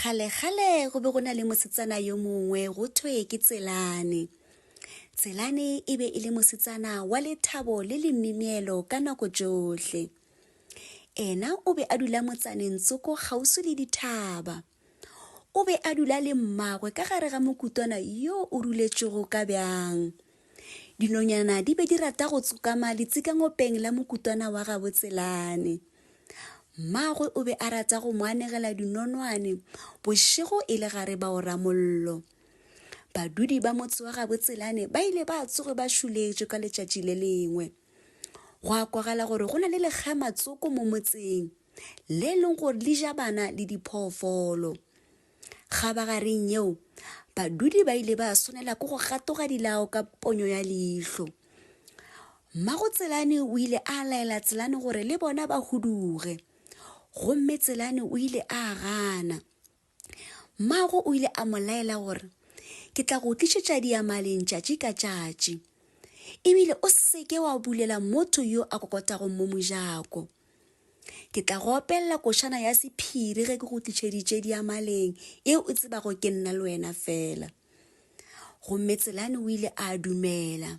kgale-kgale go be go na le mosetsana yo mongwe go thwe ke tselane tselane e be e le mosetsana wa lethabo le lemineelo ka nako tšohle ena o be a dula motsaneng tsoko kgauswi le dithaba O be a dula le mmagwe ka gare ga mokutwana yo o ruletšego ka bjang. Dinonyana di be di rata go tsokama letsikangopeng la mokutwana wa gabotselane. Mmagwe o be a rata go mo anegela dinonwane bošego e le gare ba o ramollo. Badudi ba motse wa gabotselane ba ile ba tsoge ba šuletšwe ka letšatši le lengwe. Go a kwagala gore go na le lekgamatsoko mo motseng. le e leng gore le ja bana le diphoofolo. Kgabagareng yeo, badudi ba ile ba swanela ke go gatoga dilao ka ponyo ya leihlo. Mmago Tselane o ile a laela Tselane gore le bona ba huduge, gomme Tselane o ile a gana. Mmago o ile a mo laela gore, Ke tla go tlišetša diamaleng tšatši ka tšatši. Ebile o seke wa bulela motho yo a kokotago mo mojako. Ke tla go opelela košana ya sephiri ge ke go tlišeditše diamaleng eo o tsebago ke nna le wena fela. Gomme Tselane o ile a dumela.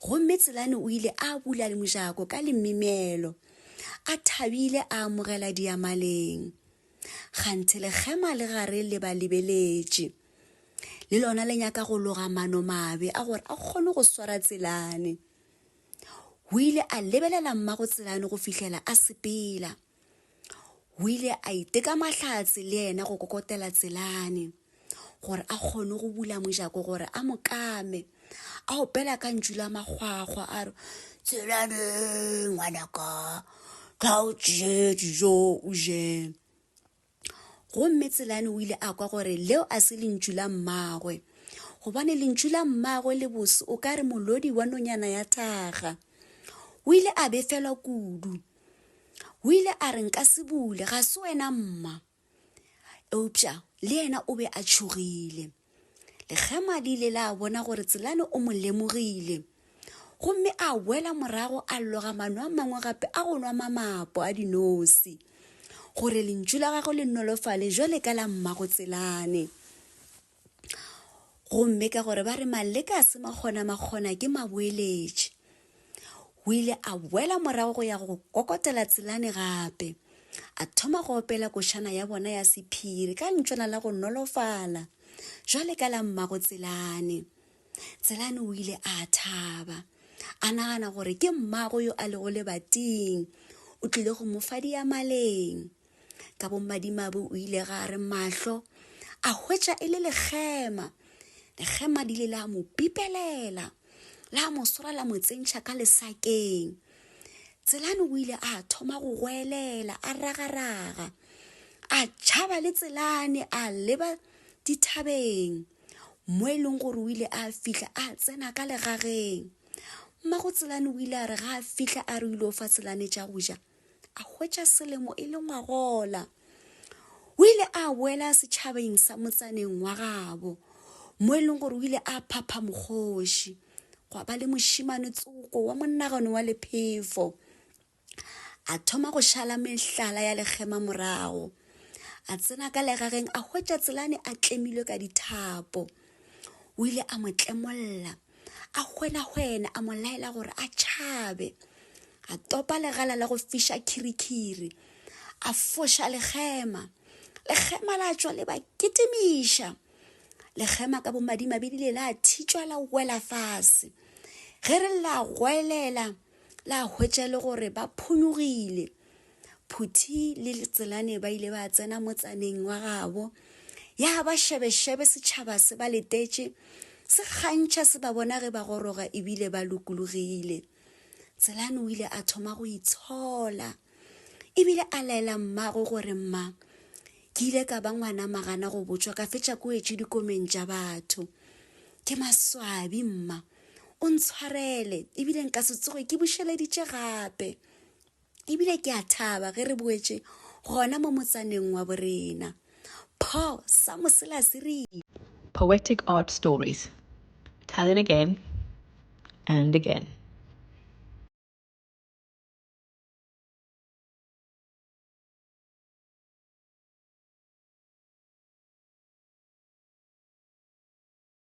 Gomme Tselane o ile a bula mojako ka lemimelo, a thabile a amogela diamaleng. Ganthe lekgema le gare le ba lebeletše. Le lona le nyaka go loga mano mabe a gore a kgone go swara Tselane. O ile a lebelela mmago Tselane go fihlela a sepela. o ile a iteka mahlatse le yena go kokotela tselane gore a kgone go bula mojako gore a mokame a opela ka ntšu la makgwakgwa a re tselane ngwanaka tla o tšee dijo o je Gomme Tselane o ile a kwa gore leo a se lentšu la mmagwe, gobane lentšu la mmagwe le bose o ka re molodi wa nonyana ya taga. O ile a befelwa kudu. O ile a re, Nka se bule, ga se wena mma. Eupša le yena o be a tšhogile. Lekgema le ile la bona gore Tselane o mo lemogile gomme a boela morago a loga mano a mangwe gape a go nwa mamapo a dinosi gore lentšu la gagwe le nolofale jwale ka la mmago Tselane gomme ka gore ba re maleka a se makgona makgona ke maboeletše O ile a boela morago go ya go kokotela tselane gape, a thoma go opela košana ya bona ya sephiri ka ntšwana la go nolofala, jwale ka la mmago tselane. Tselane o ile a thaba, a nagana gore ke mmago yo a lego lebating, o tlile go mo fa diamaleng. ka bommadimabe o ile ga re mahlo a hwetša e le lekgema lekgema di le la mo pipelela la mo swara la mo tsentšha ka lesakeng tselane o ile a thoma go goelela a ragaraga a tšhaba le tselane a leba dithabeng mo e leng gore o ile a fihla a tsena ka legageng mmago tselane o ile a re ga a fihla a re ile o fa tselane tša go ja a hwetša selemo e le ngwagola o ile a boela setšhabeng sa motsaneng wa gabo mo e leng gore o ile a phapha mokgoši gwa ba le mošimane tsoko wa monagano wa lephefo a thoma go šala mehlala ya lekgema morago a tsena ka legageng a hwetša tselane a tlemilwe ka dithapo o ile a mo tlemolla a hwenahwene a mo laela gore a tšhabe a topa legala la go fiša khirikhiri a foša legema legema la tšwa le ba kitimiša legema ka bomadimabe di le la thitšwa la wela fase ge re la goelela la hwetša le gore ba phonyogile Phuthi le Letselane ba ile ba tsena motsaneng wa gabo ya ba šebešebe setšhaba se ba letetše se kgantšha se ba bona ge ba goroga ebile ba lokologile tselane o ile a thoma go itshola ebile a laela mmago gore mma ke ile ka ba ngwana magana go botšwa ka fetša ko etše dikomeng tša batho ke maswabi mma o ntshwarele ebile nka se tsoge ke bušeleditše gape ebile ke a thaba ge re boetše gona mo motsaneng wa borena paul sa moselase re poetic art stories telling again and again